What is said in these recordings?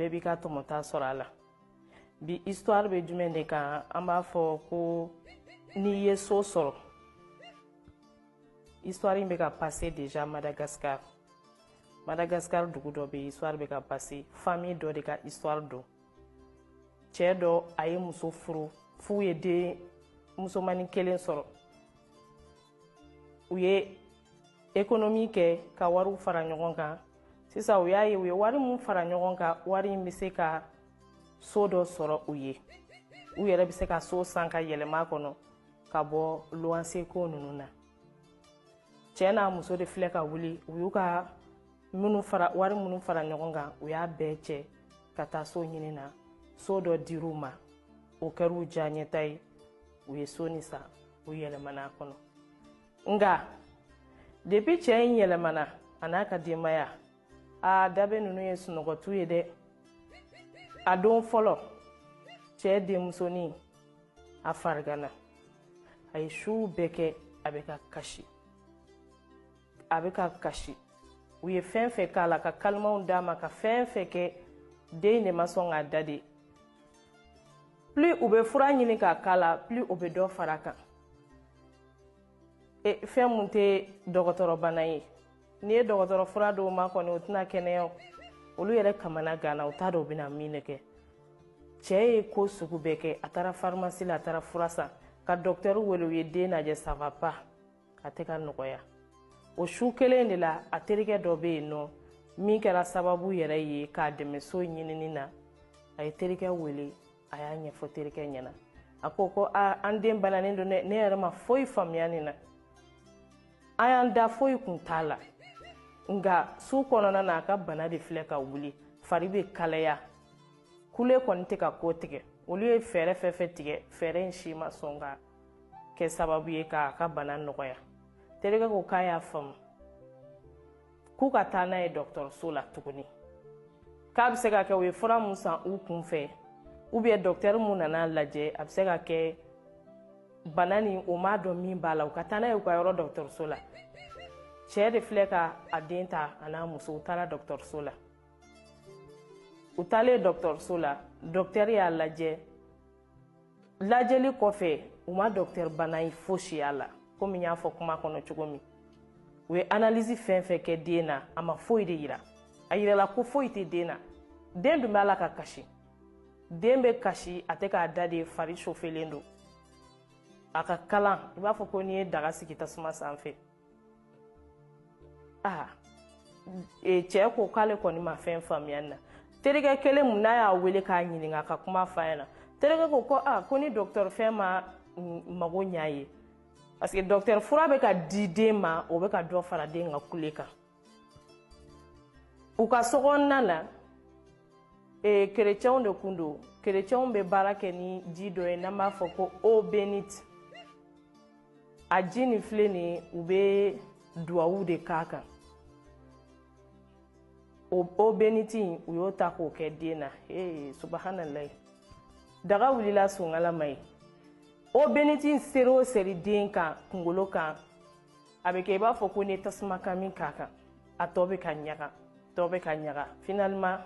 bɛɛ b'i ka tɔmɔta sɔrɔ a la bi histoire bɛ jumɛn de kan an b'a fɔ ko n'i ye so sɔrɔ histoire in bɛ ka passer déjà madagascar madagascar dugu dɔ bɛ histoire bɛ ka passer famille dɔ de ka histoire don cɛ dɔ a ye muso furu f'u ye den musomani kelen sɔrɔ u ye ekonomi kɛ ka wariw fara ɲɔgɔn kan sisan u y'a ye u ye wari mun fara ɲɔgɔn kan wari in bɛ se ka so dɔ sɔrɔ u ye u yɛrɛ bɛ se ka so san ka yɛlɛma kɔnɔ ka bɔ luwanse ko ninnu na cɛɛ n'a muso de filɛ ka wuli u y'u ka wari minnu fara ɲɔgɔn kan u y'a bɛɛ cɛ ka taa so ɲini na so dɔ dir'u ma o kɛr'u diyaɲɛta ye u ye so nin san u yɛlɛmana a kɔnɔ nka depi cɛ in yɛlɛmana a n'a ka denbaya a dabe ninnu ye sunɔgɔ to yen dɛ a don fɔlɔ cɛ denmusonin a farigana a ye su bɛɛ kɛ a bɛ ka kasi a bɛ ka kasi u ye fɛn fɛn k'a la ka kalimanw d'a ma ka fɛn fɛn kɛ den de ma sɔn k'a da de plus u bɛ fura ɲini k'a k'a la plus o bɛ dɔ fara kan e, fɛn mun tɛ dɔgɔtɔrɔbana ye n'i ye dɔgɔtɔrɔ fura d'o ma kɔni o tɛna kɛnɛya olu yɛrɛ kamana gana u t'a dɔn u bɛna min de kɛ cɛɛ ye ko sugu bɛɛ kɛ a taara farimasi la a taara fura san ka dɔktɛri wele u ye den lajɛ ça va pas a tɛ ka nɔgɔya o su kelen de la a terikɛ dɔ bɛ yen n'o min kɛra sababu yɛrɛ ye k'a dɛmɛ so ɲinini na a ye terikɛ wele a y'a ɲɛfɔ terikɛ ɲɛna a ko ko a an den bananen don dɛ ne yɛrɛ ma foyi faamuya nin na an y'an da foyi kun t'a la nka su kɔnɔna na a ka bana de filɛ ka wuli fari bɛ kalaya kule kɔni tɛ ka kɔtigɛ olu ye fɛɛrɛ fɛn fɛn tigɛ fɛɛrɛ in si ma sɔn ka kɛ sababu ye k'a ka bana nɔgɔya terikɛ ko k'a y'a faamu k'u ka taa n'a ye dɔgɔtɔrɔso la tuguni k'a bɛ se ka kɛ u ye fura mun san u kun fɛ ou bien dɔgɔtɛri mun nan'a lajɛ a bɛ se ka kɛ bana nin o m'a dɔn min b'a la u ka taa n'a ye u ka yɔrɔ dɔgɔtɔrɔso la cɛɛ de filɛ ka a den ta a n'a muso u taara dɔgɔtɔrɔso la u taalen dɔgɔtɔrɔso la dɔgɔtɛri y'a lajɛ lajɛli kɔfɛ u ma dɔktɛri bana in fosi y'a la komi n y'a fɔ kuma kɔnɔ cogo min u ye analisi fɛn fɛn kɛ den na a ma foyi de yira a yirala ko foyi tɛ den na den dun b'a la ka kasi den bɛ kasi a tɛ k'a da de fari sofelen don a ka kalan i b'a fɔ ko n'i ye daga sigi tasuma sanfɛ aa e, cɛ ko k'ale kɔni ma fɛn faamuya na terikɛ kelen mun n'a y'a wele k'a ɲininka ka kuma f'a ɲɛna terikɛ ko ko a ko ni dɔgɔtɔrɔ fɛn ma mago ɲ'a ye parce que dɔgɔtɔrɔ fura bɛ ka di den ma o bɛ ka dɔ fara den ka kule kan u ka sokɔnɔna na e, kerecɛnw de kun don kerecɛnw bɛ baara kɛ ni ji dɔ ye n'an b'a fɔ ko eau bénite a ji nin filɛ nin ye u bɛ duwawu de k'a kan o eau bénite in u y'o ta k'o kɛ den na ee subahanalayi daga wulila sunkala ma ye eau bénite in seri o seri den kan kunkolo kan a bɛ kɛ i b'a fɔ ko ni tasuma kami k'a kan a tɔ bɛ ka ɲaga tɔ bɛ ka ɲaga finalement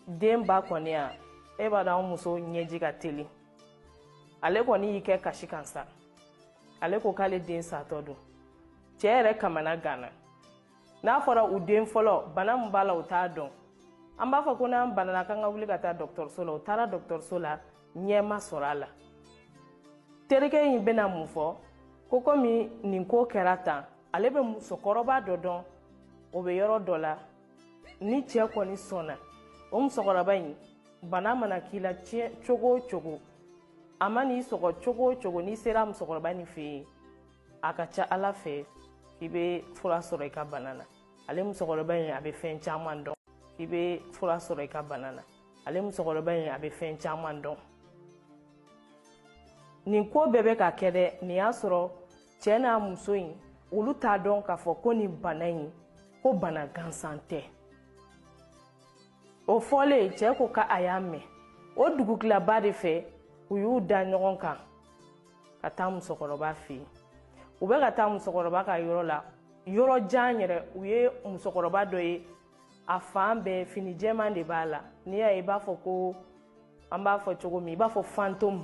den ba kɔni yan e b'a dɔn an muso ɲɛji ka teli ale kɔni y'i kɛ kasi kan sa ale ko k'ale den satɔ don cɛɛ yɛrɛ kamana ganna n'a fɔra u den fɔlɔ bana min b'a la u t'a dɔn an b'a fɔ ko n'an banana k'an ka wuli ka taa dɔgɔtɔrɔso la u taara dɔgɔtɔrɔso la ɲɛ ma sɔrɔ a la terikɛ in bɛna mun fɔ ko komi nin ko kɛra tan ale bɛ musokɔrɔba dɔ dɔn o bɛ yɔrɔ dɔ la ni cɛ kɔni sɔnna o musokɔrɔba in bana mana k'i la cogo o cogo a man'i sɔgɔ cogo o cogo n'i sera musokɔrɔba nin fɛ yen a ka ca ala fɛ i bɛ fura sɔrɔ i ka bana na ale musokɔrɔba in a bɛ fɛn caman dɔn i bɛ fura sɔrɔ i ka bana na ale musokɔrɔba in a bɛ fɛn caman dɔn nin ko bɛɛ bɛ ka kɛ dɛ nin y'a sɔrɔ cɛɛ n'a muso in olu t'a dɔn k'a fɔ ko nin bana in ko bana gansan tɛ o fɔlen cɛɛ ko k'a y'a mɛn o dugutilaba de fɛ u y'u da ɲɔgɔn kan ka taa musokɔrɔba fɛ yen u bɛ ka taa musokɔrɔba ka yɔrɔ la yɔrɔ jan yɛrɛ u ye musokɔrɔba dɔ ye a fan bɛɛ fini jɛman de b'a la n'i y'a ye i b'a fɔ ko an b'a fɔ cogo min i b'a fɔ fantôme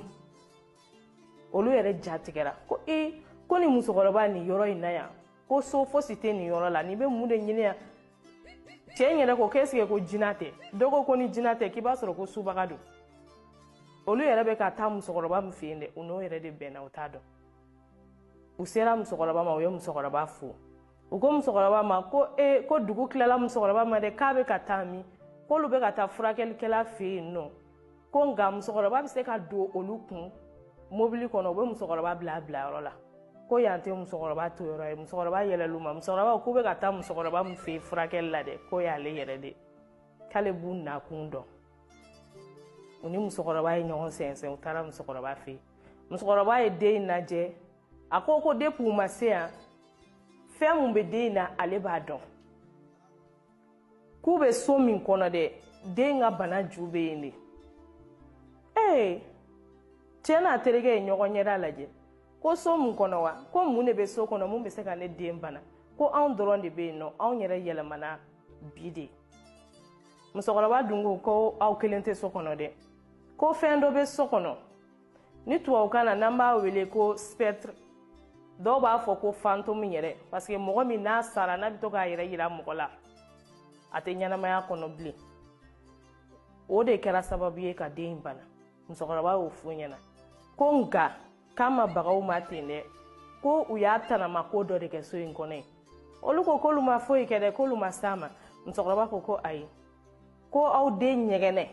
olu yɛrɛ ja tigɛra ko e ko nin musokɔrɔba nin yɔrɔ in na yan ko so fosi tɛ nin yɔrɔ la nin bɛ mun de ɲini yan cɛ in yɛrɛ ko k'est-ce que ko jina tɛ dɔ ko ko ni jina tɛ k'i b'a sɔrɔ ko subaga don olu yɛrɛ bɛ ka taa musokɔrɔba min fɛ yen dɛ u n'o yɛrɛ de bɛnna u t'a dɔn u sera musokɔrɔba ma u ye musokɔrɔba fo u ko musokɔrɔba ma ko e ko dugu tilala musokɔrɔba ma dɛ k'a bɛ ka taa min k'olu bɛ ka taa furakɛlikɛla fɛ yen nɔ ko nka musokɔrɔba bɛ se ka don olu kun mobili kɔnɔ u bɛ musokɔrɔba bila a bila yɔrɔ la ko yan tɛ musokɔrɔba to yɔrɔ ye musokɔrɔba yɛlɛl'u ma musokɔrɔba k'u bɛ ka taa musokɔrɔba min fɛ yen furakɛli la dɛ k'o y'ale yɛrɛ de k'ale b'u nakun dɔn u ni musokɔrɔba ye ɲɔgɔn sɛnsɛn u taara musokɔrɔba fɛ yen musokɔrɔba ye den in lajɛ a ko ko depuis u ma se yan fɛn mun bɛ den in na ale b'a dɔn k'u bɛ so min kɔnɔ dɛ den ka bana ju bɛ yen de ee cɛ n'a terikɛ ye ɲɔgɔn ɲɛda lajɛ ko so mun kɔnɔ wa ko mun de bɛ so kɔnɔ mun bɛ se ka ne den bana ko anw dɔrɔn de bɛ yen nɔ anw yɛrɛ yɛlɛmana bi de musokɔrɔba dun ko ko aw kelen tɛ so kɔnɔ dɛ ko fɛn dɔ bɛ so kɔnɔ ni tubabukan na n'an b'a wele ko spectre dɔw b'a fɔ ko fantôme yɛrɛ parce que mɔgɔ min n'a sara n'a bɛ to k'a yɛrɛ yira mɔgɔ la a tɛ ɲɛnamaya kɔnɔ bilen o de kɛra sababu ye ka den in bana musokɔrɔba y'o f'u ɲɛna ko nka k'a ma bag'aw ma ten dɛ ko u y'a tanama ko dɔ de kɛ so in kɔnɔ yen olu ko k'olu ma foyi kɛ dɛ k'olu ma s'a ma musokɔrɔba ko ko ayi ko aw den ɲɛgɛnɛ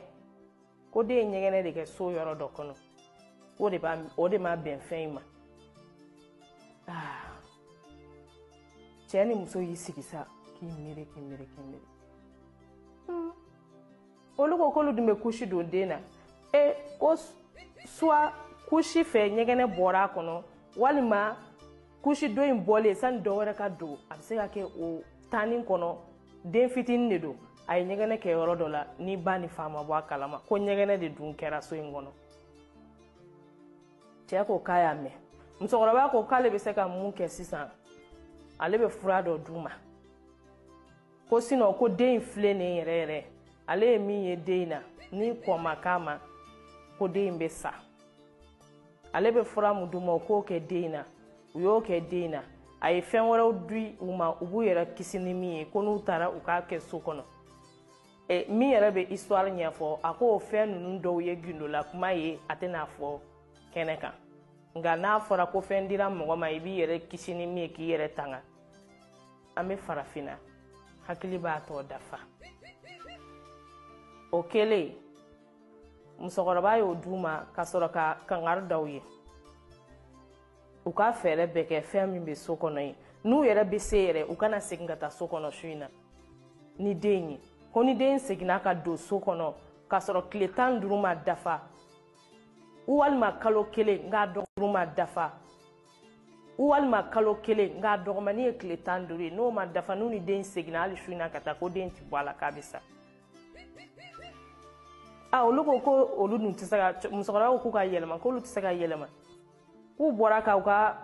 ko den ye ɲɛgɛnɛ de kɛ so yɔrɔ dɔ kɔnɔ o de b'a o de ma bɛn fɛn in ma ah. cɛ ni muso y'i sigi sa k'i miiri k'i miiri k'i miiri hmm. olu ko k'olu dun bɛ kusi don den na e ko soit kusi fɛ ɲɛgɛnɛ bɔra a kɔnɔ walima kusi dɔ in bɔlen sani dɔ wɛrɛ ka don a bɛ se ka kɛ o temps nin kɔnɔ den fitinin de don a ye ɲɛgɛnɛ kɛ yɔrɔ dɔ la ni ba ni fa ma bɔ a kalama ko ɲɛgɛnɛ de dun kɛra so in kɔnɔ cɛ ko k'a y'a mɛn musokɔrɔba ko k'ale bɛ se ka mun kɛ sisan ale bɛ fura dɔ d'u ma ko sinon ko den in filɛ nin yɛrɛ yɛrɛ ale ye min ye den in na ni kɔn ma k'a ma ko den in bɛ sa ale bɛ fura min d'u ma u k'o kɛ den in na u y'o kɛ den in na a ye fɛn wɛrɛw di u ma u b'u yɛrɛ kisi ni min ye ko n'u taara u k'a kɛ so kɔnɔ e, min yɛrɛ bɛ histoire ɲɛfɔ a k'o fɛn ninnu dɔw ye gindola kuma ye a tɛna fɔ kɛnɛ kan nka n'a fɔra ko fɛn dira mɔgɔ ma i b'i yɛrɛ kisi ni min ye k'i yɛrɛ tanga an bɛ farafinna hakili b'a tɔ dafa o kɛlen musokɔrɔba y'o d'u ma ka sɔrɔ ka kangari da u ye u ka fɛɛrɛ bɛɛ kɛ fɛn min bɛ so kɔnɔ yen n'u yɛrɛ bɛ se yɛrɛ u kana segin ka taa so kɔnɔ su in na ni den ye ko ni den seginna ka don so kɔnɔ k'a sɔrɔ tile tan ni duuru ma dafa walima kalo kelen nk'a dɔgɔkun ma dafa walima kalo kelen nk'a dɔgɔmani ye tile tan ni duuru ye n'o ma dafa n'u ni den seginna hali su in na ka taa ko den ti bɔ a la k'a bɛ sa a ah, olu ko ko olu dun tɛ se ka musokɔrɔba ko k'u ka yɛlɛma k'olu tɛ se ka yɛlɛma k'u bɔra ka u ka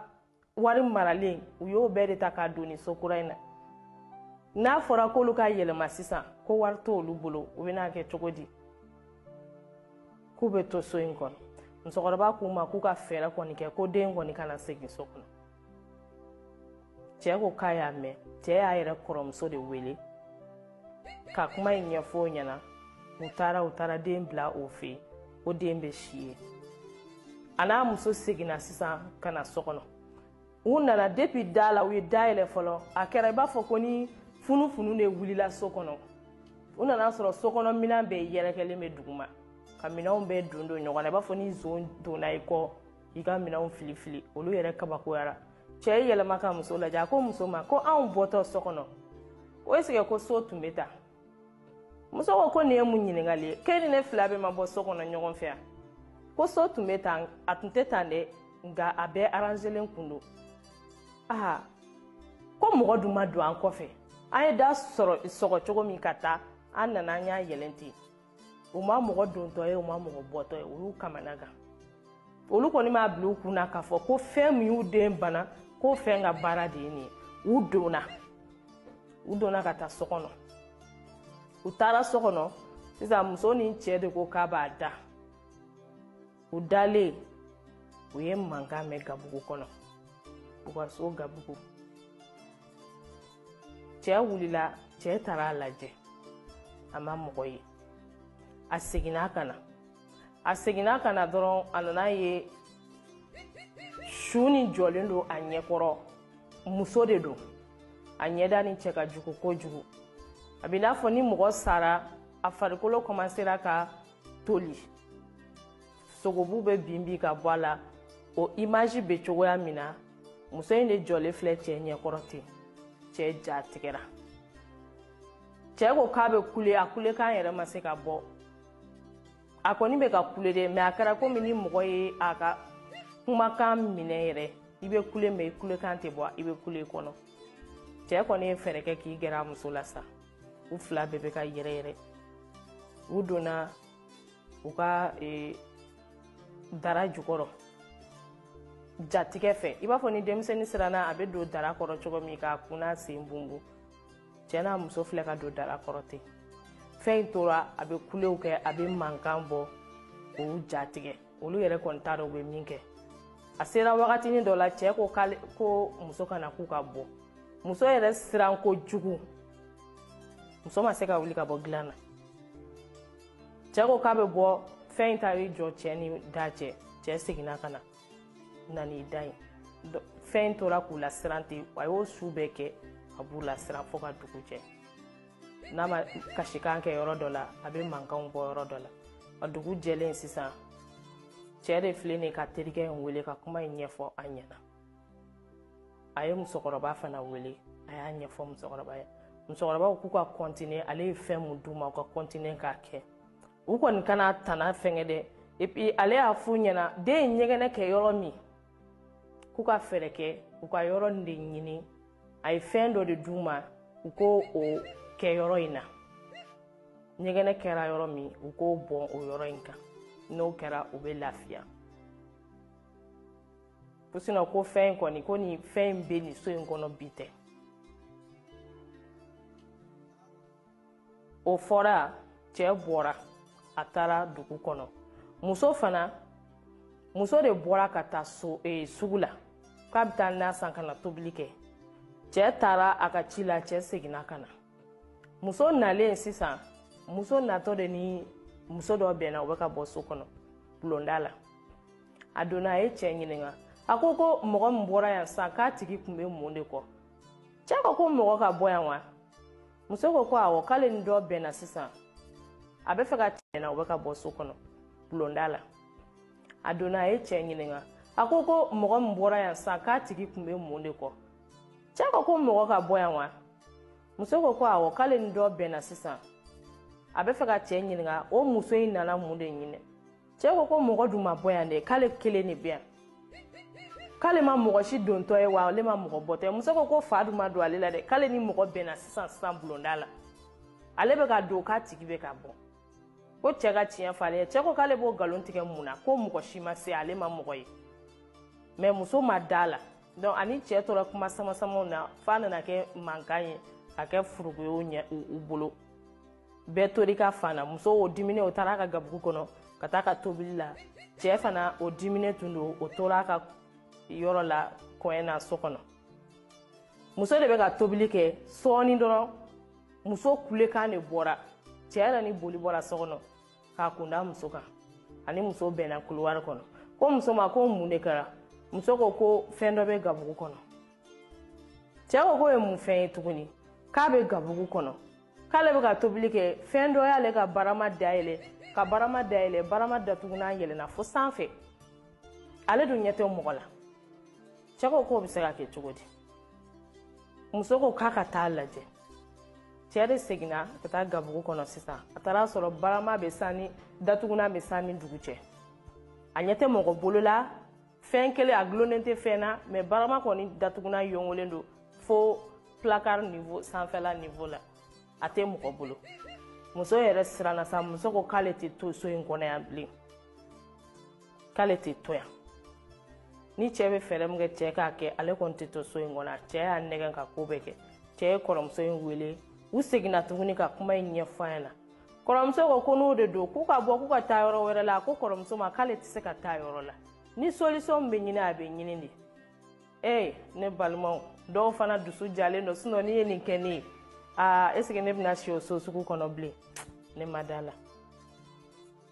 wari maralen u y'o bɛɛ de ta k'a don nin so kura in na n'a fɔra k'olu ka yɛlɛma sisan ko wari t'olu bolo u bɛna kɛ cogo di k'u bɛ to so in kɔnɔ musokɔrɔba k'u ma k'u ka fɛɛrɛ kɔni kɛ ko den kɔni kana segin so kɔnɔ cɛɛ ko k'a y'a mɛn cɛɛ y'a yɛrɛ kɔrɔmuso de wele ka kuma in ɲɛfɔ o ɲɛna u taara u taara den bila o fɛ yen ko den bɛ si yen a n'a muso seginna sisan ka na so kɔnɔ u nana depi da la u ye da yɛlɛ fɔlɔ a kɛra i b'a fɔ ko ni funufunu de wulila so kɔnɔ u nana sɔrɔ so kɔnɔ minɛn bɛɛ yɛrɛkɛlen bɛ duguma ka minɛnw bɛɛ don don ɲɔgɔn na i b'a fɔ ni zon donna i kɔ i ka minɛnw fili fili olu yɛrɛ kabakoyara cɛɛ y'i yɛlɛma ka muso lajɛ a ko muso ma ko anw bɔtɔ so kɔnɔ ko esike ko so tun be tan muso ko ko nin ye mun ɲiningali ye k'e ni ne fila bɛɛ ma bɔ so kɔnɔ ɲɔgɔn fɛ yan ko so tun be tan a tun tɛ tan dɛ nka a bɛɛ aranzelen kun don aa ko mɔgɔ dun ma don an kɔfɛ an ye da sɔrɔ sɔgɔ cogo min ka taa an nana an y'a yɛlɛn ten u ma mɔgɔ dontɔ ye u ma mɔgɔ bɔtɔ ye o y'u kamana gan olu kɔni m'a bila u kun na k'a fɔ ko fɛn min y'u den bana ko fɛn ka baara de ye nin ye u donna u donna ka taa so kɔnɔ u taara so kɔnɔ sisan muso ni cɛ de ko k'a b'a da u dalen u ye mankan mɛn gabugu kɔnɔ u ka so gabugu cɛɛ wulila cɛɛ taara a lajɛ a ma mɔgɔ ye a seginna ka na a seginna ka na dɔrɔn a nana ye su nin jɔlen don a ɲɛkɔrɔ muso de don a ɲɛda nin cɛ ka jugu kojugu a bɛ n'a fɔ ni mɔgɔ sara a farikolo kɔmasera ka toli sogobu bɛ bin bin ka bɔ a la o imaji bɛ cogoya min na muso in de jɔlen filɛ cɛ ɲɛkɔrɔ ten cɛ ja tigɛra cɛ ko k'a bɛ kule a kulekan yɛrɛ ma se ka bɔ a kɔni bɛ ka kule dɛ mɛ a kɛra komi ni mɔgɔ ye a ka kumakan minɛ yɛrɛ i bɛ kule mɛ i kulekan tɛ bɔ i bɛ kule kɔnɔ cɛ kɔni ye fɛɛrɛ kɛ k'i gɛrɛ a muso la sa u fila bɛɛ bɛ ka yɛrɛ yɛrɛ u donna u ka e, dara jukɔrɔ jatigɛ fɛ i b'a fɔ ni denmisɛnnin siranna a bɛ don dara kɔrɔ cogo min k'a kun n'a sen bunbu cɛ n'a muso filɛ ka don dara kɔrɔ ten fɛn in tora a bɛ kulew kɛ a bɛ mankan bɔ k'u jatigɛ olu yɛrɛ kɔni t'a dɔn u bɛ min kɛ a sera wagatinin dɔ la cɛɛ ko k'ale ko muso ka na k'u ka bɔ muso yɛrɛ siran kojugu muso ma se ka wuli ka bɔ dilan na cɛɛ ko k'a bɛ bɔ fɛn in taar'i jɔ cɛɛ ni da cɛ cɛɛ seginna ka na na n'i da yen fɛn in tora k'u lasiran ten a y'o su bɛɛ kɛ a b'u lasiran fɔɔ ka dugu jɛ n'a ma kasikan kɛ yɔrɔ dɔ la a bɛ mankanw bɔ yɔrɔ dɔ la a dugu jɛlen sisan cɛɛ de filɛ nin k'a terikɛ in wele ka kuma in ɲɛfɔ a ɲɛna a ye musokɔrɔba fana wele a y'a ɲɛfɔ musokɔrɔba ye musokɔrɔba k'u ka kɔntine ale ye fɛn min d'u ma u ka kɔntine k'a kɛ u kɔni kana tana fɛngɛ dɛ epi ale y'a f'u ɲɛna den ye ɲɛgɛnɛ kɛ yɔrɔ min k'u ka fɛɛrɛ kɛ u ka yɔrɔ nin de ɲini a ye fɛn dɔ de d'u ma u k'o o kɛ yɔrɔ in na ɲɛgɛnɛ kɛra yɔrɔ min u k'o bɔn o yɔrɔ in kan n'o kɛra u bɛ lafiya ko sinɔ ko fɛn in kɔni ko nin fɛn in bɛ nin so in kɔnɔ bi tɛ o fɔra cɛɛ bɔra a taara dugu kɔnɔ muso fana muso de bɔra ka taa so e, sugu la k'a bɛ taa na san ka na tobili kɛ cɛɛ taara a ka ci la cɛɛ seginna ka na muso nalen sisan muso natɔ de ni muso dɔ bɛnna o bɛ ka bɔ so kɔnɔ bulonda la a donna a ye cɛɛ ɲininka a ko ko mɔgɔ min bɔra yan sisan k'a tigi tun bɛ mun de kɔ cɛɛ ko ko mɔgɔ ka bɔ yan wa muso ko ko awɔ k'ale ni dɔ bɛnna sisan a bɛ fɛ ka tiɲɛna o bɛ ka bɔ so kɔnɔ bulonda la a donna a ye cɛɛ ɲininka a ko ko mɔgɔ min bɔra yan sisan k'a tigi tun bɛ mun de kɔ cɛɛ ko ko mɔgɔ ka bɔ yan wa muso ko ko awɔ k'ale ni dɔ bɛnna sisan a bɛ fɛ ka cɛɛ ɲininka o muso in nana mun de ɲini cɛɛ ko ko mɔgɔ dun ma bɔ yan dɛ k'ale kelen de bɛ yan k'ale ma mɔgɔ si dontɔ ye wa ale ma mɔgɔ bɔtɔ ye muso ko ko fa dun ma don ale la dɛ k'ale ni mɔgɔ bɛnna sisan sisan bulonda la ale bɛ ka don k'a tigi bɛ ka bɔ ko cɛɛ ka tiɲɛ fɔ ale ye cɛɛ ko k'ale b'o nkalon tigɛ mun na ko mɔgɔ si ma se ale ma mɔgɔ ye mɛ muso ma d'a la donc a ni cɛɛ tora kuma samasamaw na f'a nana kɛ mankan ye ka kɛ furugu ye u ɲɛ u bolo bɛɛ tor'i ka fan na muso o diminen o taar'a ka gabugu kɔnɔ ka taa a ka tobili la cɛɛ fana o diminen tun don o tor'a ka yɔrɔ la kɔɲɛ na so kɔnɔ muso de bɛ ka tobili kɛ sɔɔni dɔrɔn muso kulekan de bɔra cɛɛ yɛrɛ ni boli bɔra so kɔnɔ k'a kunda muso kan a ni muso bɛnna kuluwari kɔnɔ ko muso ma ko mun de kɛra muso ko ko fɛn dɔ bɛ gabugu kɔnɔ cɛɛ ko k'o ye mun fɛn ye tuguni k'a bɛ gabugu kɔnɔ k'ale bɛ ka tobili kɛ fɛn dɔ y'ale ka barama dayɛlɛ ka barama dayɛlɛ barama datugunan yɛlɛnna fo sanfɛ ale dun ɲɛ tɛ mɔgɔ la cɛ ko k'o bɛ se ka kɛ cogo di muso ko k'a ka taa lajɛ cɛ de seginna ka taa gabugu kɔnɔ sisan a taara a sɔrɔ barama bɛ san ni datugunan bɛ san ni dugu cɛ a ɲɛ tɛ mɔgɔ bolo la fɛn kelen a dulonnen tɛ fɛn na mɛ barama kɔni datugunan yongolen don fo placard niveau sanfɛla niveau la a tɛ mɔgɔ bolo muso yɛrɛ siranna sa muso ko k'ale tɛ to so in kɔnɔ yan bilen k'ale tɛ to yan ni cɛɛ bɛ fɛɛrɛ min kɛ cɛɛ k'a kɛ ale kɔni tɛ to so in kɔnɔ cɛɛ y'a nɛgɛn ka ko bɛɛ kɛ cɛɛ ye kɔrɔmuso in wele u seginna tuguni ka kuma in ɲɛfɔ a ɲɛna kɔrɔmuso ko ko n'o de don k'u ka bɔ k'u ka taa yɔrɔ wɛrɛ la a ko kɔrɔmuso ma k'ale tɛ se ka taa yɔrɔ la ni solisɔn bɛ ɲini a bɛ ɲini de ee ne balimaw dɔw fana dusu jalen don sinɔn n'i ye nin kɛ ne ye aa eseke ne bɛna si o so sugu kɔnɔ bilen ne ma da la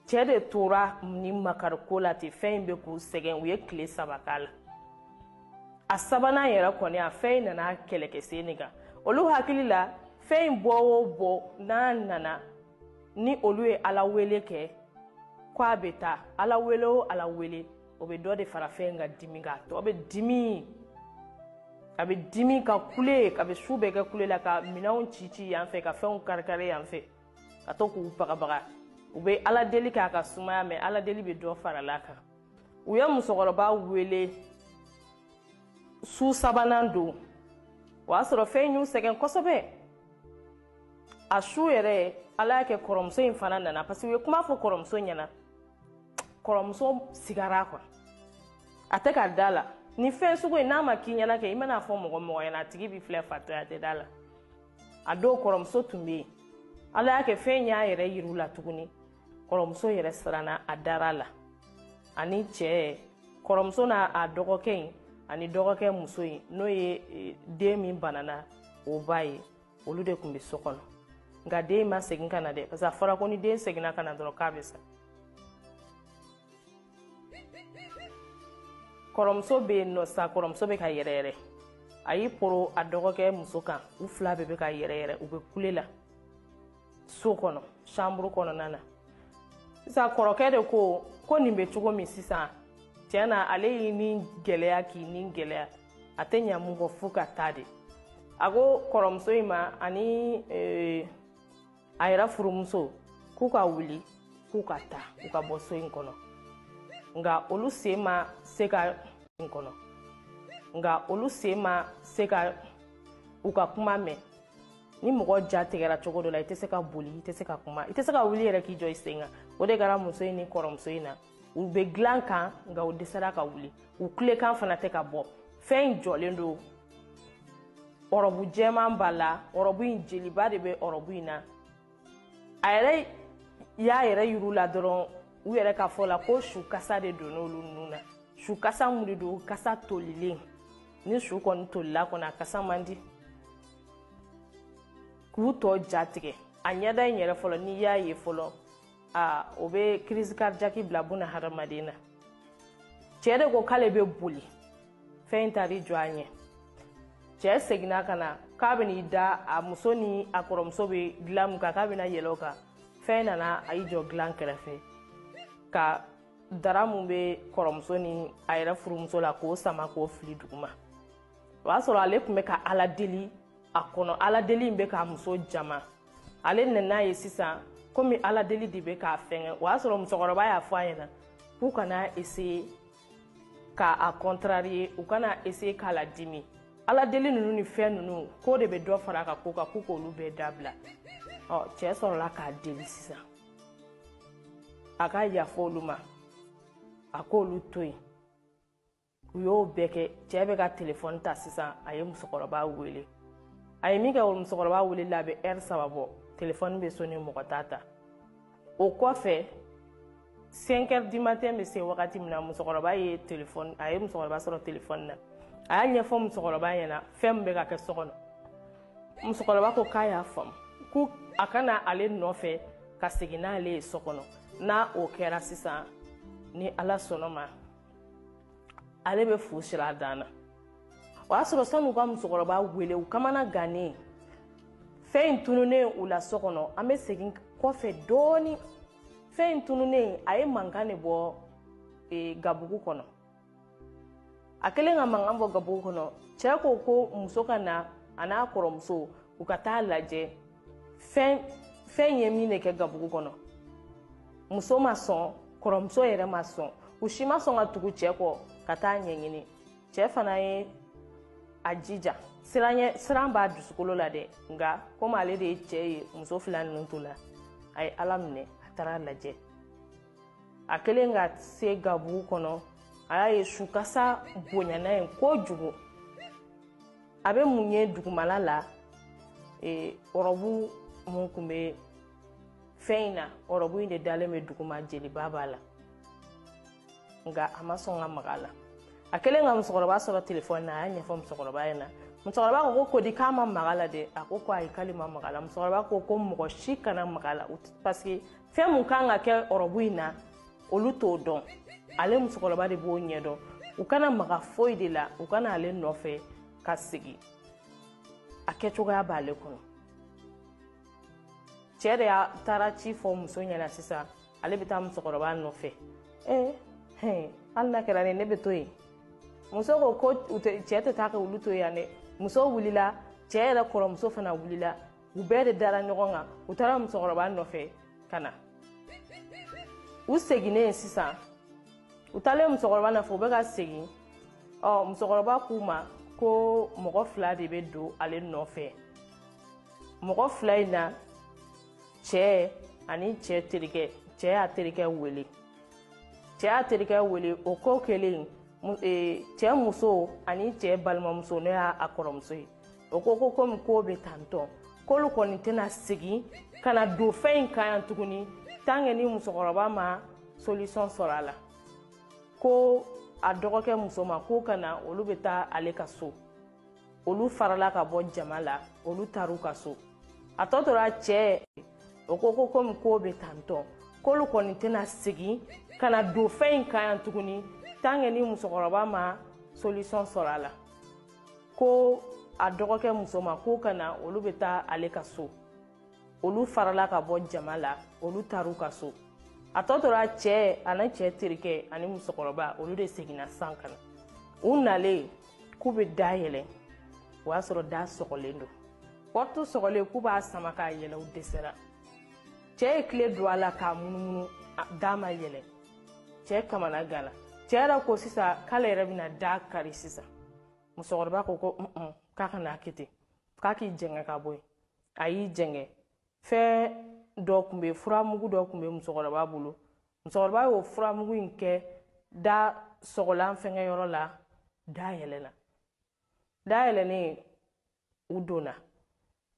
cɛɛ de tora ni makari ko la ten fɛn in bɛ k'u sɛgɛn u ye tile saba k'a la a sabanan yɛrɛ kɔni a fɛn in nana kɛlɛ kɛ sen nin kan olu hakili la fɛn in bɔ o bɔ n'a nana ni olu ye ala wele kɛ ko a bɛ taa ala wele o ala wele o bɛ dɔ de fara fɛn in ka dimi kan a bɛ dimi a bɛ dimi ka kule a bɛ su bɛɛ kɛ kule la ka minɛnw ci ci yan fɛ ka fɛnw karikari yan fɛ ka to k'u bagabaga u bɛ ala deli k'a ka sumaya mɛ ala deli bɛ dɔ fara a kan u ye musokɔrɔba wele su sabanan don o y'a sɔrɔ fɛn y'u sɛgɛn kosɛbɛ a su yɛrɛ ala y'a kɛ kɔrɔmuso in fana nana parce que u ye kuma fɔ kɔrɔmuso ɲɛna kɔrɔmuso sigara quoi a tɛ ka da la ni fɛn sugu in n'a ma k'i ɲɛna kɛ i mana a fɔ mɔgɔ mɔgɔ ɲɛna a tigi b'i filɛ fatɔ ye a tɛ da la a don kɔrɔmuso tun bɛ yen ala y'a kɛ fɛn y'a yɛrɛ yir'u la tuguni kɔrɔmuso yɛrɛ siranna a dara la ani cɛ kɔrɔmuso n'a a dɔgɔkɛ in ani dɔgɔkɛ muso in n'o ye e, den min banana o ba ye olu de tun bɛ so kɔnɔ nka den ma segin ka na dɛ parce que a fɔra ko ni den seginna ka na dɔrɔn k'a bɛ sa kɔrɔmuso bɛ yen nɔ sa kɔrɔmuso bɛ ka yɛrɛyɛrɛ a y'i poron a dɔgɔkɛ muso kan u fila bɛɛ bɛ ka yɛrɛyɛrɛ u bɛ kule la so kɔnɔ sanburu kɔnɔna na sisan kɔrɔkɛ de ko ko nin bɛ cogo min sisan tiɲɛ na ale y'i ni gɛlɛya k'i ni gɛlɛya a tɛ ɲa mun kɔ fo ka taa de a ko kɔrɔmuso in ma ani ee, a yɛrɛ furumuso k'u ka wuli k'u ka taa u ka bɔ so in kɔnɔ nka olu sen ma se ka in kɔnɔ nka olu sen ma se ka u ka kuma mɛn ni mɔgɔ ja tigɛra cogo dɔ la i tɛ se ka boli i tɛ se ka kuma i tɛ se ka wuli yɛrɛ k'i jɔ i sen kan o de kɛra muso in ni kɔrɔmuso in na u be dilan kan nka u dɛsɛra ka wuli u kulekan fana tɛ ka bɔ fɛn in jɔlen don ɔrɔbu jɛman b'a la ɔrɔbu in jeliba de bɛ ɔrɔbu in na a yɛrɛ y'a yɛrɛ yir'u la dɔrɔn u yɛrɛ ka fɔ la ko su kasa de donn'olu nun na su kasa mun de don kasa tolilen ni su kɔni tolila kɔni a kasa man di k'u tɔ jatigɛ a ɲɛda in yɛrɛ fɔlɔ n'i y'a ye fɔlɔ aa o bɛ crise cardiaque bila buna hadamaden na cɛɛ de ko k'ale bɛ boli fɛn in taar'i jɔ a ɲɛ cɛɛ seginna ka na k'a ben'i da a muso ni a kɔrɔmuso be dilan min kan k'a bena yɛlɛ o kan fɛn nana a y'i jɔ dilan kɛrɛfɛ ka dara min be kɔrɔmuso ni a yɛrɛ furumuso la k'o sama k'o fili duguma o y'a sɔrɔ ale tun bɛ ka ala deli a kɔnɔ ala deli in bɛ k'a muso jama ale nan'a ye sisan komi ala deli de bɛ k'a fɛngɛ o y'a sɔrɔ musokɔrɔba y'a fɔ a ɲɛna k'u kana eseye ka a kɔntrariye u kana eseye k'a ladimi ala deli ninnu ni fɛn ninnu k'o de bɛ dɔ fara a ka ko kan k'u k'olu bɛɛ dabila ɔ cɛɛ sɔrɔla k'a deli sisan a ka yafa olu ma a k'olu to yen u y'o bɛɛ kɛ cɛɛ bɛ ka telefɔni ta sisan a ye musokɔrɔba wele a ye min kɛ o musokɔrɔba wele la a bɛ ɛri saba bɔ telefɔni bɛ soni mɔgɔ t'a ta o kɔfɛ cinq heures du matin bɛ se wagati min na musokɔrɔba ye telefɔni a ye musokɔrɔba sɔrɔ telefɔni na a y'a ɲɛfɔ musokɔrɔba ɲɛna fɛn min bɛ ka kɛ so kɔnɔ musokɔrɔba ko k'a y'a faamu ko a ka na ale nɔfɛ ka segin n'ale ye so kɔnɔ n'o kɛra sisan ni ala sɔnn'a ma ale bɛ fu sir'a dan na o y'a sɔrɔ san'u ka musokɔrɔba wele u kamanagannen fɛn in tununnen u la so kɔnɔ an bɛ segin kɔfɛ dɔɔni fɛn in tununnen a ye mankan de bɔ e, gabugu kɔnɔ a kɛlen ka mankan bɔ gabugu kɔnɔ cɛ ko ko muso ka na a n'a kɔrɔmuso u ka taa lajɛ fɛn fɛn ye min de kɛ gabugu kɔnɔ muso ma sɔn kɔrɔmuso yɛrɛ ma sɔn u si ma sɔn ka tugu cɛ kɔ ka taa ɲɛɲini cɛ fana ye a jija siran b'a dusukolo la dɛ nka komi ale de ye cɛ ye muso fila ninnu to la a ye ala minɛ a taar'a lajɛ a kɛlen ka se gabugu kɔnɔ a y'a ye sukasa bonyana yen kojugu a bɛ mun ye dugumala la ee, ɔrɔbu mun tun bɛ fɛn in na ɔrɔbu in de dalen bɛ duguma jeliba b'a la nka a ma sɔn ka maga a la a kɛlen ka musokɔrɔba sɔrɔ telefɔni na a y'a ɲɛfɔ musokɔrɔba ɲɛna musokɔrɔba ko ko ko di k'a ma maga la dɛ a ko ko ayi k'ale ma maga la musokɔrɔba ko ko mɔgɔ si kana maga la parce que fɛn mun kan ka kɛ ɔrɔbu in na olu t'o dɔn ale musokɔrɔba de b'o ɲɛdɔn u kana maga foyi de la u ka na ale nɔfɛ ka segin a kɛcogoya b'ale kɔnɔ cɛɛ de taara ci fɔ muso ɲɛna sisan ale bɛ taa musokɔrɔba nɔfɛ ee hɛn hali n'a kɛra ne ne bɛ to yen muso ko ko cɛɛ tɛ taa ka olu to yan dɛ muso wulila cɛɛ yɛrɛ kɔrɔmuso fana wulila u bɛɛ de dara ɲɔgɔn kan u taara musokɔrɔba nɔfɛ ka na u seginnen sisan u taalen musokɔrɔba nɔfɛ u bɛ ka segin ɔ musokɔrɔba k'u ma ko mɔgɔ fila de bɛ don ale nɔfɛ mɔgɔ fila in na cɛ ani cɛ terikɛ cɛ y'a terikɛ wele cɛ y'a terikɛ wele o ko kɛlen e, cɛ muso ani cɛ balimamuso n'o y'a kɔrɔmuso ye o ko ko komi k'o bɛ tantɔ k'olu kɔni tɛna segin ka na don fɛn in kan yan tuguni tant que ni musokɔrɔba ma solution sɔrɔ a la ko a dɔgɔkɛ muso ma k'o ka na olu bɛ taa ale ka so olu farala ka bɔ jama la olu taar'u ka so a tɔ tora cɛ o ko ko komi k'o bɛ tantɔ k'olu kɔni tɛna segin ka na don fɛn in kan yan tuguni tant que ni musokɔrɔba ma solution sɔrɔ a la ko a dɔgɔkɛ muso ma k'o ka na olu bɛ taa ale ka so olu farala ka bɔ jama la olu taar'u ka so a tɔ tora cɛ ani cɛ terikɛ ani musokɔrɔba olu de seginna san ka na u nalen k'u bɛ da yɛlɛ o y'a sɔrɔ da sɔgɔlen don porte sɔgɔlen k'u b'a sama k'a yɛlɛ u dɛsɛra cɛ ye kile don a la k'a munumunu da ma yɛlɛ cɛɛ kamanaganna cɛɛ yɛrɛ ko sisan k'ale yɛrɛ bɛna da kari sisan musokɔrɔba ko ko un k'a kana kɛ ten k'a k'i jɛngɛ ka bɔ yen a y'i jɛngɛ fɛn dɔ tun bɛ furamugu dɔ tun bɛ musokɔrɔba bolo musokɔrɔba y'o furamugu in kɛ da sɔgɔlan fɛngɛ yɔrɔ la da yɛlɛla da yɛlɛlen u donna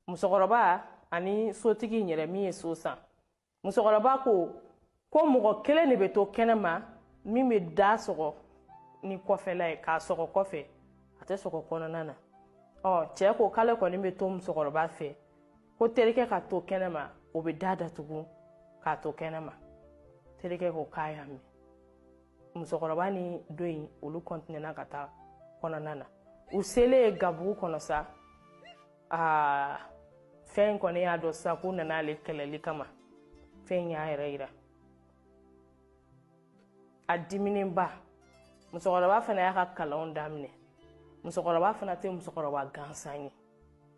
musokɔrɔba ani sotigi in yɛrɛ min ye so san musokɔrɔba ko ko mɔgɔ kelen de bɛ to kɛnɛma min bɛ da sɔgɔ ni kɔfɛla ye k'a sɔgɔ kɔfɛ a tɛ sɔgɔ kɔnɔna na ɔ cɛɛ ko k'ale kɔni bɛ to musokɔrɔba fɛ ko terikɛ ka to kɛnɛma o bɛ da datugu k'a to kɛnɛma terikɛ ko k'a y'a mɛn musokɔrɔba ni do in olu kɔntinɛna ka taa kɔnɔna na u selen gabugu kɔnɔ sa aa fɛn kɔni y'a dɔn sisan k'u nana ale kɛlɛli kama fɛn y'a yɛrɛ yira a diminenba musokɔrɔba fana y'a ka kalanw daminɛ musokɔrɔba fana tɛ musokɔrɔba gansan ye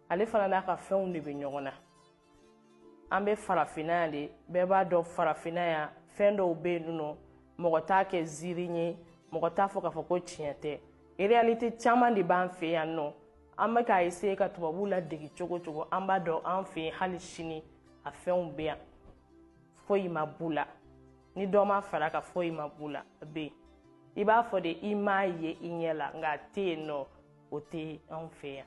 ale fana n'a ka fɛnw de bɛ ɲɔgɔn na an bɛ farafinna yan de bɛɛ b'a dɔn farafinna yan fɛn dɔw bɛ yen nɔ mɔgɔ t'a kɛ ziiri ye mɔgɔ t'a fɔ k'a fɔ ko tiɲɛ tɛ réalité caman de b'an fɛ yan nɔ an bɛ k'a essayer ka tubabuw ladege cogo cogo an b'a dɔn an fɛ yen hali sini a fɛnw bɛ yan foyi ma b'u la ni dɔ ma far'a kan foyi ma b'u la a bɛ yen i b'a fɔ de i m'a ye i ɲɛ la nka a tɛ yen nɔ o tɛ anw fɛ yan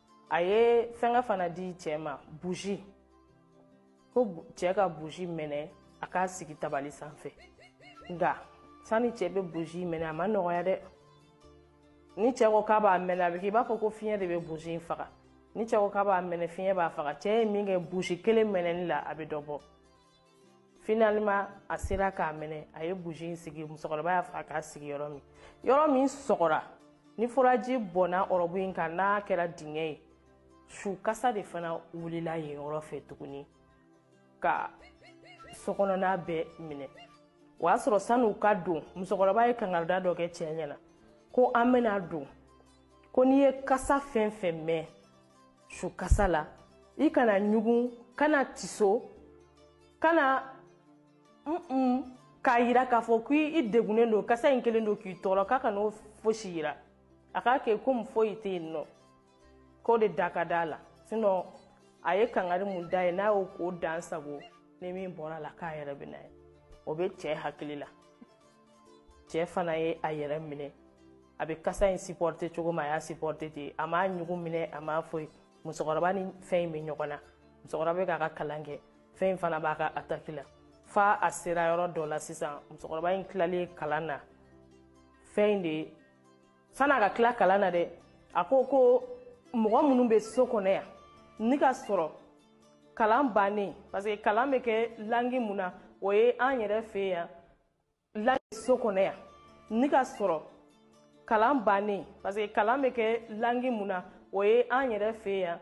a ye fɛngɛ fana di cɛɛ ma buzi ko cɛɛ ka buzi mɛnɛ a k'a sigi tabali sanfɛ nka sani cɛɛ bɛ buzi mɛnɛ a ma nɔgɔya dɛ ni cɛɛ ko k'a b'a mɛnɛ a bɛ k'i b'a fɔ ko fiɲɛ de bɛ buzi faga ni cɛɛ ko k'a b'a mɛnɛ fiɲɛ b'a faga cɛɛ ye min kɛ buzi kelen mɛnɛni la a bɛ dɔ bɔ Finalement a sera k'a mɛnɛ a ye bougie in sigi musokɔrɔba y'a fɔ a k'a sigi yɔrɔ min yɔrɔ min sɔgɔra ni furaji bɔnna ɔrɔbu in kan n'a kɛra dingɛ ye su kasa de fana wulila yen yɔrɔ fɛ tuguni ka sokɔnɔna bɛɛ minɛ o y'a sɔrɔ san'u ka don musokɔrɔba ye kangarida dɔ kɛ cɛɛ ɲɛna ko an bɛna don ko n'i ye kasa fɛn fɛn mɛn su kasa la i kana ɲugun kana tiso kana mm k'a yira k'a fɔ ko i degunnen don kasa in kelen don k'i tɔɔrɔ k'a kan'o fosi yira a k'a kɛ komi foyi tɛ yen nɔ k'o de da ka d'a la sinon a ye kangari mun d'a ye n'a y'o ko dan sago ni min bɔr'a la k'a yɛrɛ bɛn'a ye o bɛ cɛ hakili la cɛɛ fana ye a yɛrɛ minɛ a bɛ kasa in supporter cogo min a y'a supporter ten a m'a ɲugu minɛ a ma foyi musokɔrɔba ni fɛn in bɛ ɲɔgɔn na musokɔrɔba bɛ k'a ka kalan kɛ fɛn in fana b'a ka attaque la fo a sera yɔrɔ dɔ la sisan musokɔrɔba in tilalen kalan na fɛn in de san'a ka tila kalan na dɛ a ko ko mɔgɔ minnu bɛ so kɔnɔ yan ni ka sɔrɔ kalan bannen parce que kalan bɛ kɛ langi mun na o ye an yɛrɛ fɛ yan la so kɔnɔ yan ni ka sɔrɔ kalan bannen parce que kalan bɛ kɛ langi mun na o ye an yɛrɛ fɛ yan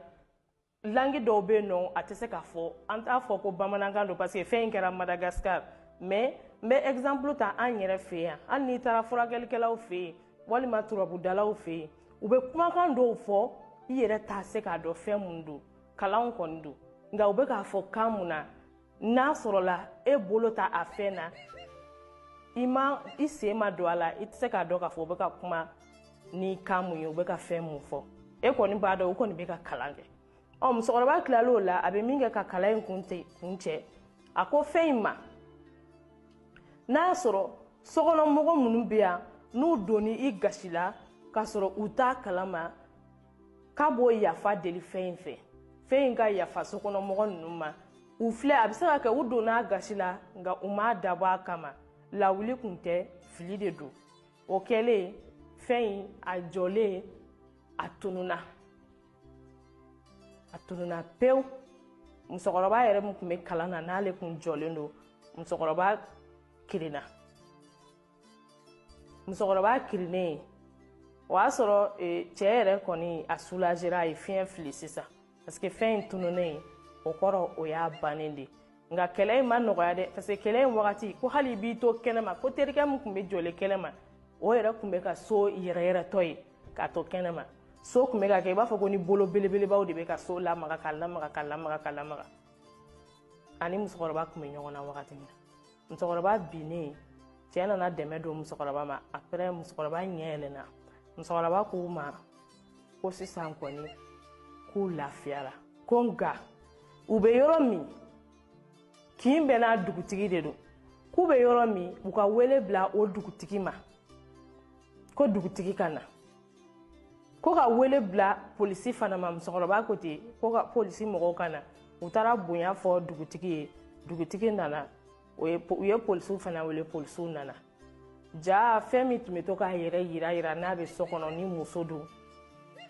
langi dɔw bɛ yen nɔ a tɛ se ka fɔ an t'a fɔ ko bamanankan don parce que fɛn in kɛra Madagascar mais n bɛ exemple ta an yɛrɛ fɛ yan hali n'i taara furakɛlikɛlaw fɛ yen walima turabudalaw fɛ yen u bɛ kumakan dɔw fɔ i yɛrɛ tɛ se k'a dɔn fɛn mun don kalanw kɔni don nka u bɛ k'a fɔ kan mun na n'a sɔrɔla e bolo t'a fɛn na i ma i sen ma don a la i tɛ se k'a dɔn k'a fɔ u bɛ ka kuma ni kan mun ye u bɛ ka fɛn mun fɔ e kɔni b'a dɔn u kɔni bɛ ka kalan kɛ ɔ musokɔrɔba tilala o la a bɛ min kɛ ka kalan in kuncɛ a ko fɛn in ma n'a sɔrɔ sokɔnɔmɔgɔ minnu bɛ yan n'u donn'i gasi la k'a sɔrɔ u t'a kalama k'a b'o yafa deli fɛn in fɛ fɛn in ka yafa sokɔnɔmɔgɔ ninnu ma u filɛ a bɛ se ka kɛ u donna a gasi la nka u m'a dabɔ a kama lawuli kun tɛ fili de don o kɛlen fɛn in a jɔlen a tununna a tununna pewu musokɔrɔba yɛrɛ min tun bɛ kalan na n'ale kun jɔlen don musokɔrɔba kirinna musokɔrɔba kirinnen o y'a sɔrɔ e, cɛ yɛrɛ kɔni a soulagera a ye fiɲɛ fili sisan parce que fɛn in tununnen o kɔrɔ o y'a bannen de nka kɛlɛ in ma nɔgɔya dɛ parce que kɛlɛ in wagati ko hali i b'i to kɛnɛma ko terikɛ min tun bɛ jɔlen kɛnɛma o yɛrɛ tun bɛ ka so yɛrɛyɛrɛtɔ ye k'a to kɛnɛma so tun bɛ ka kɛ i b'a fɔ ko ni bolo belebelebaw de bɛ ka so lamaga ka lamaga ka lamaga ka lamaga ani musokɔrɔba tun bɛ ɲɔgɔn na wagati min na musokɔrɔba binnen cɛ nana dɛmɛ don musokɔrɔba ma après musokɔrɔba ɲɛ yɛlɛnna musokɔrɔba k'u ma ko sisan kɔni k'u lafiyara ko nka u bɛ yɔrɔ min kin bɛɛ n'a dugutigi de don k'u bɛ yɔrɔ min u ka wele bila o dugutigi ma ko dugutigi ka na ko ka wele bila polisi fana ma musokɔrɔba ko ten ko ka polisi mɔgɔw ka na u taara bonya fɔ dugutigi ye dugutigi nana u ye polisiw fana wele polisiw nana jaa fɛn min tun bɛ to k'a yɛrɛ yira yira n'a bɛ so kɔnɔ ni muso don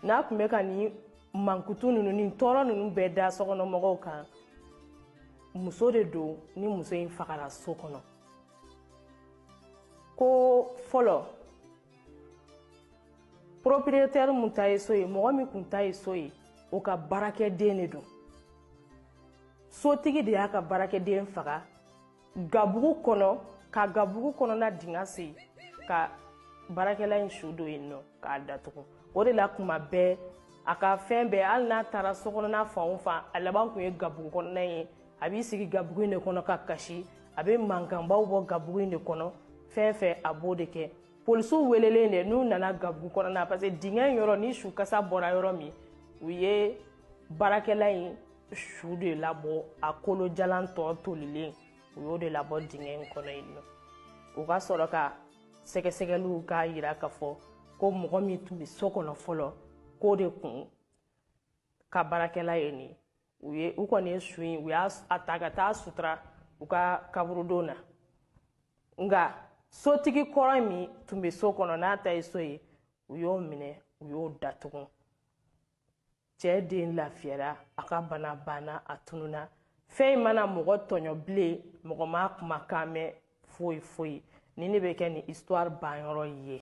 n'a tun bɛ ka ni mankutu ninnu ni tɔɔrɔ ninnu bɛɛ da sokɔnɔmɔgɔw kan muso de don ni muso in fagara so kɔnɔ ko fɔlɔ propriétaire min ta ye so ye mɔgɔ min kun ta ye so ye o ka baarakɛden de don sotigi de y'a ka baarakɛden faga gabugu kɔnɔ ka gabugu kɔnɔna dingɛ sen ka baarakɛla in su don yen nɔ k'a datugu o de la kuma bɛɛ a ka fɛn bɛɛ hali n'a taara so kɔnɔna fan o fan a laban kun ye gabugu kɔnɔna ye a b'i sigi gabugu in de kɔnɔ ka kasi a bɛ mankanbaw bɔ gabugu in de kɔnɔ fɛn fɛn a b'o de kɛ polisiw welelen de n'u nana gabugu kɔnɔna parce que dingɛ in yɔrɔ ni su kasa bɔra yɔrɔ min u ye baarakɛla in su de labɔ a kolo jalan tɔ tolilen u y'o de labɔ dingɛ in kɔnɔ yen nɔ u ka sɔrɔ ka sɛgɛsɛgɛliw k'a yira k'a fɔ ko mɔgɔ min tun bɛ so kɔnɔ fɔlɔ k'o de kun ka baarakɛla ye nin ye u ye u kɔni ye su in u y'a ta ka taa sutura u ka kaburudo na nka sotigi kɔrɔ min tun bɛ so kɔnɔ n'a ta ye so ye u y'o minɛ u y'o datugu cɛ den lafiyara a ka bana banna a tununa fɛn in ma na mɔgɔ tɔɲɔ bilen mɔgɔ ma kumakan mɛn foyi foyi nin de bɛ kɛ nin histoire banyɔrɔ ye